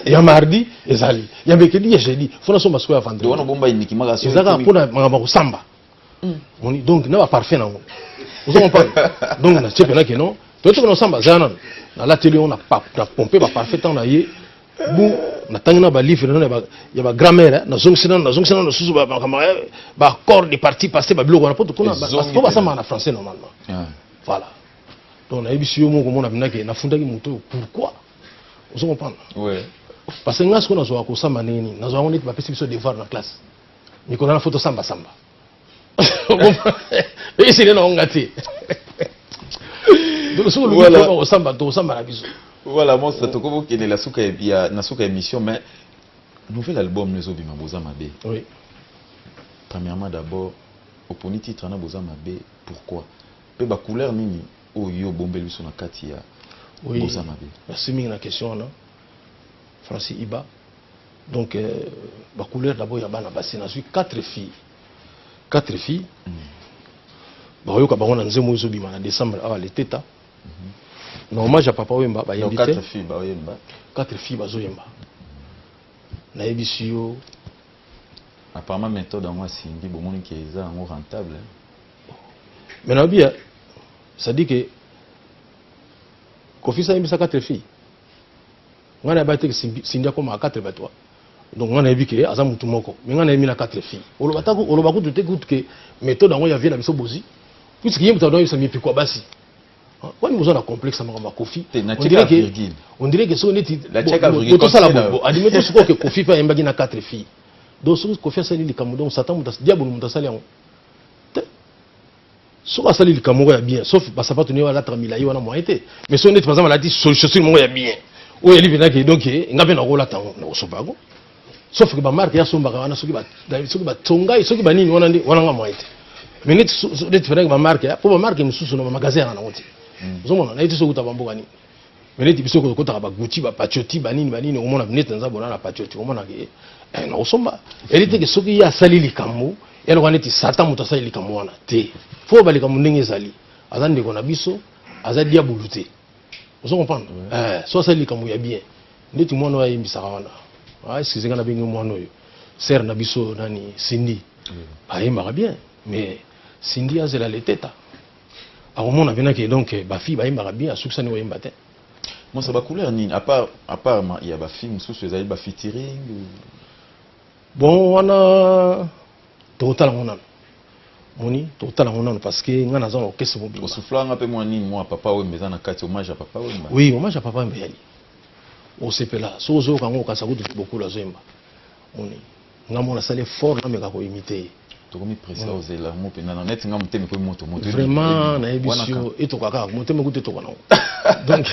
ya mardi ezali ya mercredi ya jeudi fona so masiko ya vendredi wana bomba iniki maka so ezaka pona makamba ko samba hmm. moni donc na ba parfum na ngo ozo comprendre donc na chepe na keno to to na samba zana na la télé on a pompe ba parfum tant na ye bu natangi na balivre nano ya bagrammaire eh, nazongisi nano nazongisi nano susu makambo eh, baaccord de parti passé babiloko wana poto kuna po basamaka na français normalement ah. voilà donc nayebisi yo moko mona bindaki nafundaki moto oyo pourquoi ozo comprendre parce que ngai sikoyo nazwaka kosamba ndenge nini nazwaka ngo neti bapesi biso devoir na classe mikolo na fo tosambasamba esene na onga te soki oluki osamba to osamba na biso voilà monstre tokoki kokende na suka ya na suka ya émission mais nouvel album ezobima boza mabe oui. premièrement d'abord oponi titre na boza mabe pourquoi mpe bacouleur nini oyo yo obombeli biso na kati ya boza mabe merci mingi na question wana francis iba donc euh, ba couleur d'abord ya bana basi nazwi quatre filles quatre filles mm. bakoyoka bango na nzembo oyo ezobima na décembre awa leteta mm -hmm. na hommage ya papa oyemba bayembi te quatre filles bazoyemba nayebisi yo apparemment méthode yango asimbi bomoni ke eza yango rentable mais nayobi ya c'est-à-dire ke kofisa ayembisa quatre filles ngai nayebi te sindi akoma 4 ba 3 donc ngai nayebi ke aza mutu moko mais ngai nayebi na 4 filles oloba ta oloba kutu te kutu ke méthode yango ya vie na biso bozi puisque ye moto adoyebisa mipiko ya basi wani boza na complexe ya makambo ya kofi on dirait ke soki neti tosala adime to sikoyo ke kofi mpe ayembaki na 4 filles donc soki kofi asali likambo donc satan diabolo moto asali yango soki asali likambo moko ya bien sauf basapato nio alataka milai wana moyen te mais soki neti baza balati chaussure moko ya bien oyo yali mpenza ke donc eh, nga mpe nakolata yango nakosopa yango sauf ke bamarke yasombaka wana soki batonga ye soki banini wana nde wana nga moyen te mais neti neti mpenza ke bamarke mpo bamarke mosusu na bamagasin yanga nango te hmm. ozomona naye te soki uta bamboka nini mais neti biso kotaka ba gucci ba pacioti banini banini okomona neti naza bona na pacioti okomona ke eh, nakosomba eli teke soki ye asali likambo yaloka neti satan moto asali likambo wana te fo oba likambo ndenge ezali aza ndeko na biso aza diabulu te ozo comprendre eh, so asali likambo ya bien ndeti mwana oyo ayembisaka wana ah, excuse nga nabenge mwana oyo sere na biso nani sindi ayembaka bien mais sindi azela leteta akomona mpena ke donc bafille bayembaka bien asukisani koyemba te mosa bacouleur nini apart apart ya bafille mosusu ezali bafitiring bon wana tokotala ngo nano moni tokotala ngo nano parce que ngai naza na orchestre mobimba osufla nga mpe mwa nini mwa papa wemba eza na kati hommage ya papa wemba oui hommage ya papa wemba eyali osepela soki ozoyoka ngo okasa kutu bokolo azoyemba moni nga mona sala effort na meka ko imiter ye tokomi presse au zela mo pena na net nga motema ko moto moto vraiment na yebisi yo etoka kaka motema ko etoka na donc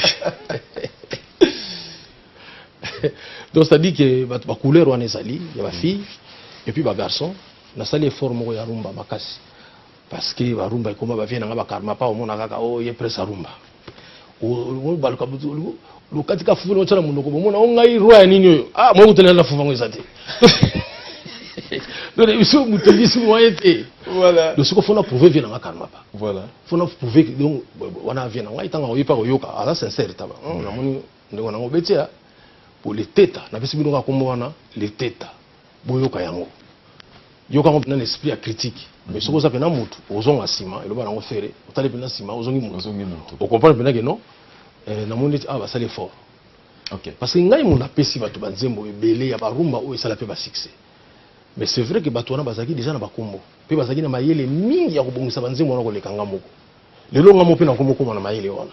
donc ça dit que ba ba couleur wana ezali ya ba fille et puis ba garçon na sali effort moko ya rumba makasi Parce que ba rumba ekoma ba vie na nga ba karma pa omona kaka o oh, ye presse a rumba. O ba luka butu lu lu katika fufu no tsala munoko bomona o ngai roi ya nini oyo. Ah mo kutela na fufu ngo ezate. Donc biso mutu biso moyen te. Voilà. Donc soko fona prouver vie na nga karma pa. Voilà. Fona prouver donc wana vie na nga itanga oyi pa koyoka ala sincère taba. Hmm, na moni ndeko na ngo betia. Pour les teta na bisi bino ka kombo wana les teta. boyoka yango yoka yango mpena na esprit ya critique mais mhm. soki oza mpena motu ozonga nsima eloba nango fere otali mpena nsima ozongi motu okomprendre mpena ke non eh, namoni neti awa ah, basali effort okay. parce que ngai moto napesi bato banzembo ebele ya barumba oyo esala mpe basuccès mais c'est vrai ke bato wana bazalaki deja na bakombo mpe bazalaki na mayele mingi ya kobongisa banzembo wana koleka ngai moko lelo ngai moko mpe nakomokoma na mayele wana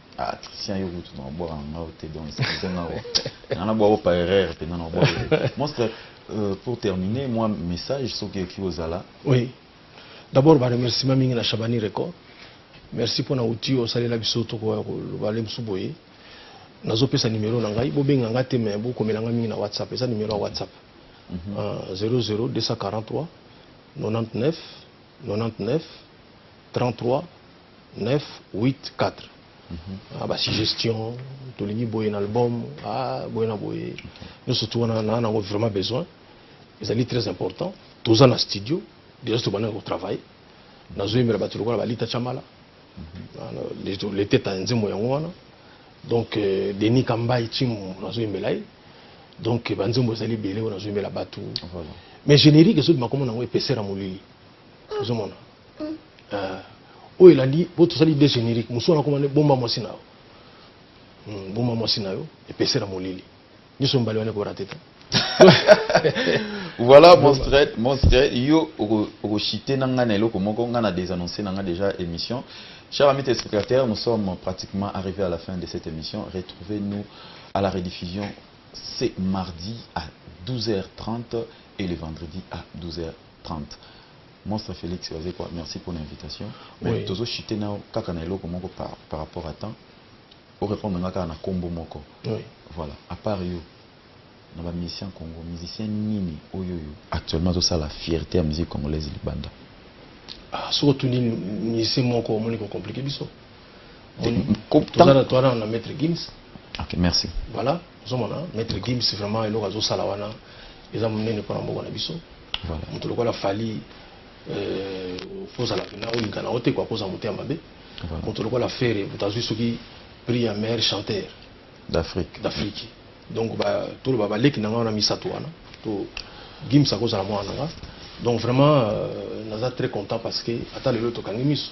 Ah, Christian, yo kutu na obwaka na ngai te donc excuse nga o. Na na bwaka par erreur mpenza na obwaka. Monstre, euh, pour terminer, moi message soki ekoki kozala. Oui. D'abord ba remerciements mingi na Shabani Record. Merci mpo na outil oyo osalela biso tokoya koloba le mosusu boye. Nazopesa numero na ngai, bobenga ngai te mais bokomela ngai mingi na WhatsApp, eza numero ya WhatsApp. Mm -hmm. uh, 00 243 99 99 33 9 8 4 ah, ba suggestion tolingi boye na album ah, boye na boye nyonso tu wana na nango vraiment besoin ezali très important toza na studio déjà tobandaki kotravaille nazoyembela bato lokola balita chamala mhm. leteta nzembo yango wana donc euh, denis kambai chimu nazoyembela ye donc banzembo ezali ebele oyo nazoyembela bato mais générique ezobima komona yango epesera molili ozomona ah, oyo elandi po tosali de générique mosusu wana komane bomba mwasi na yo hmm, bomba mwasi na yo epesela molili nyonso mibale wana ekorate te voilà mon straight mon straight yo okochite na ngai na eloko moko ngai na désannonce na ngai déjà émission chers amis téléspectateurs nous sommes pratiquement arrivés à la fin de cette émission retrouvez nous à la rediffusion c'est mardi à 12h30 et le vendredi à 12h 30 monstre Felix wazekwa merci pona invitation mais oui. tozo chite nao kaka na eloko moko par, par rapport à temps o répondre nga kaka na kombo moko oui. voilà à part yo na ba musicien congo musicien nini oyo yo actuellement azosala fierté ya musique congolaise libanda ah, soki otuni musicien moko omoni ko complique biso ok merci voilà ozomona maître gims vraiment eloko azosala wana eza monene mpona mboka na biso moto lokola fali euh, ozala mpena olinga na otekwa akozala moto ya mabe moto lokola fere moto azwi soki prix ya meilleur chanteur d'afrique d'afrique donc toloba baleki na ngai wana misato wana to gims akozala mwana na ngai donc vraiment euh, naza très content parce que ata lelo tokangi miso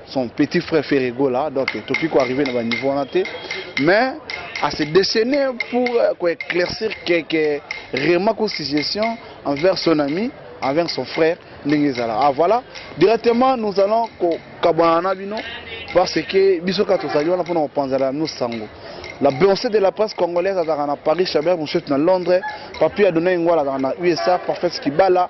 son petit frère Ferre Gola donc toki ko arriver na ba niveau wana te mais à se déchaîner pour euh, ko éclaircir quelques remarques ou suggestions envers son ami envers son frère ndenge ezala ah voilà directement nous allons kokabwana na bino parce que biso kaka tozali wana mpona kopanzala no sango la blanche de la presse congolaise azalaka na paris chabert moshetu na londres papi adonai ngwala azalaka na usa parfait kibala